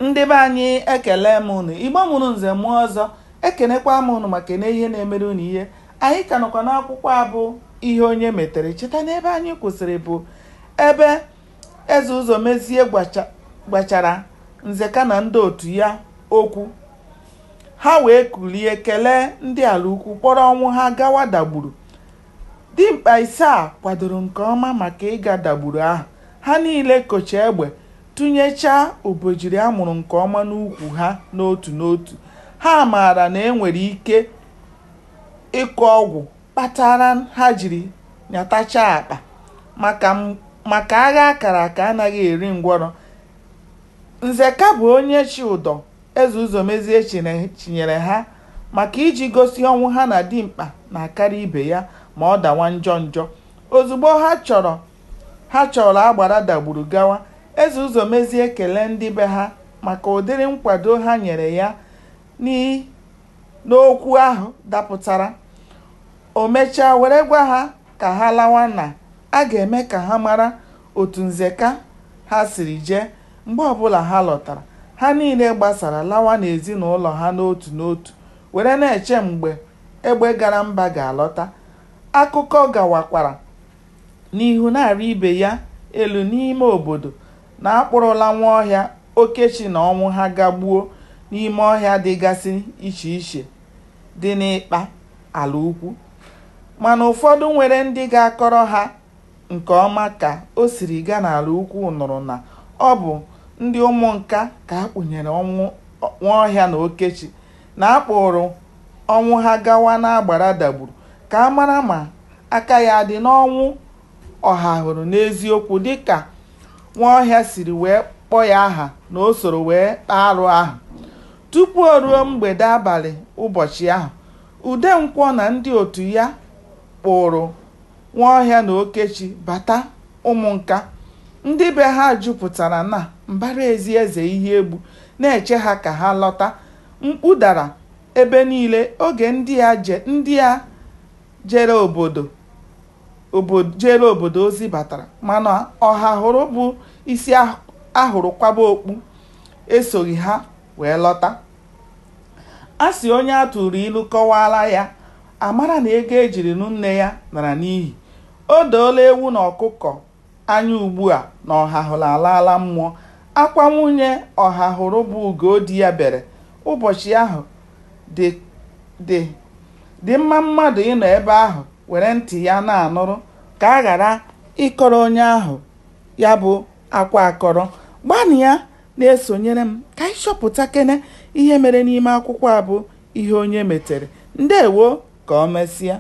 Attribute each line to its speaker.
Speaker 1: Ndị be anyị ekele m unu, Igbo mụrụ nze mụọ ọzọ, ekenekwa m unu maka na ihe na-emere unu ihe. Anyị ka nọkwa n'akwụkwọ a bụ Ihe Onye Metere. Cheta na ebe anyị kwụsịrị bụ ebe Eze Ụzọmezie gwachara Nzeka na ndị otu ya okwu. Ha wee kulie kelee ndị Alaukwu kpọrọ Ọnwụha gawa Dagburu. Dimkpa ise a kwadoro nke ọma maka ịga Dagburu ahụ. Ha niile kocha egbe Tụnyechaa obejiri a mụrụ nke ọma n'ukwu ha n'otu n'otu, ha maara na e nwere ike ịkụ ọgwụ kpatara ha jiri nyatachaa akpa. maka agha a kara aka anaghị eri ngwọrọ. Nzeka bụ onye chị ụdọ Eze Ụzọmezie chịnyere ha maka iji gosi Ọnwụha na dimkpa na-akarị ibe ya ma ọ dawa njọ njọ. Ozugbo ha chọrọ Ha chọrọ agbara Dagburu gawa. Eze Ụzọmezie kelee ndị be ha maka ụdịrị nkwado ha nyere ya ni n'okwu ahụ dapụtara. O mechaa were gwa ha ka ha lawa na a ga-eme ka ha mara otu Nzeka ha siri jee mgbe ọbụla ha lọtara. Ha niile gbasara lawa n'ezinaụlọ ha n'otu n'otu were na-eche mgbe egbe gara mba ga-alọta. Akụkọ gawakwara. n'ihu na-arị ibe ya elu n'ime obodo na a kpụrụla Nwaọhịa, Okechi na Ọnwụha gaa gbuo n'ime ọhịa dịgasị iche iche dị n'ịkpa Alaukwu. Mana ụfọdụ nwere ndị ga-akọrọ ha nke ọma ka o siri gaa n'Alaukwu nụrụ na ọ bụ ndị Ụmụnka ka a kpụnyere Ọnwụ, Nwaọhịa na Okechi na a kpụụrụ Ọnwụha gawa n'agbara Dagburu ka a mara ma aka ya dị n'ọnwụ Ọhahụrụ n'eziokwu dịka Nwaọhịa siri wee kpọọ ya aha na o soro wee kpaa arụ ahụ. Tupu o ruo mgbede abalị ụbọchị ahụ, Udenkwọ na ndị otu ya kpụụrụ Nwaọhịa na Okechi bata Ụmụnka, ndị be ha jupụtara na mbara ezi Eze Iheegbu na-eche ha ka ha lọta. Mkpu dara ebe niile oge ndị a je obod jeere obodo ozi batara, mana Ọhahụrụ bụ isi a hụrụ kwaba okpu esoghị ha wee lọta. A sị onye a tụụrụ ilu kọwaara ya A mara na ego e jiri nụọ nne ya lara n'ihi. O doola ewu na ọkụkọ anya ugbua na Ọhahụrụ alaala mmụọ. Akwa nwunye Ọhahụrụ bụ Ugodiya bere ụbọchị ahụ dị mma mmadụ ịnọ ebe ahụ were ntị ya na-anụrụ ka a ghara ịkọrọ onye ahụ ya bụ Akwa akọrọ. Gbanịa na-esonyere m ka anyị chọpụtakene ihe mere n'ime akwụkwọ a bụ Ihe Onye Metere. Ndewo! Ka o mesịa.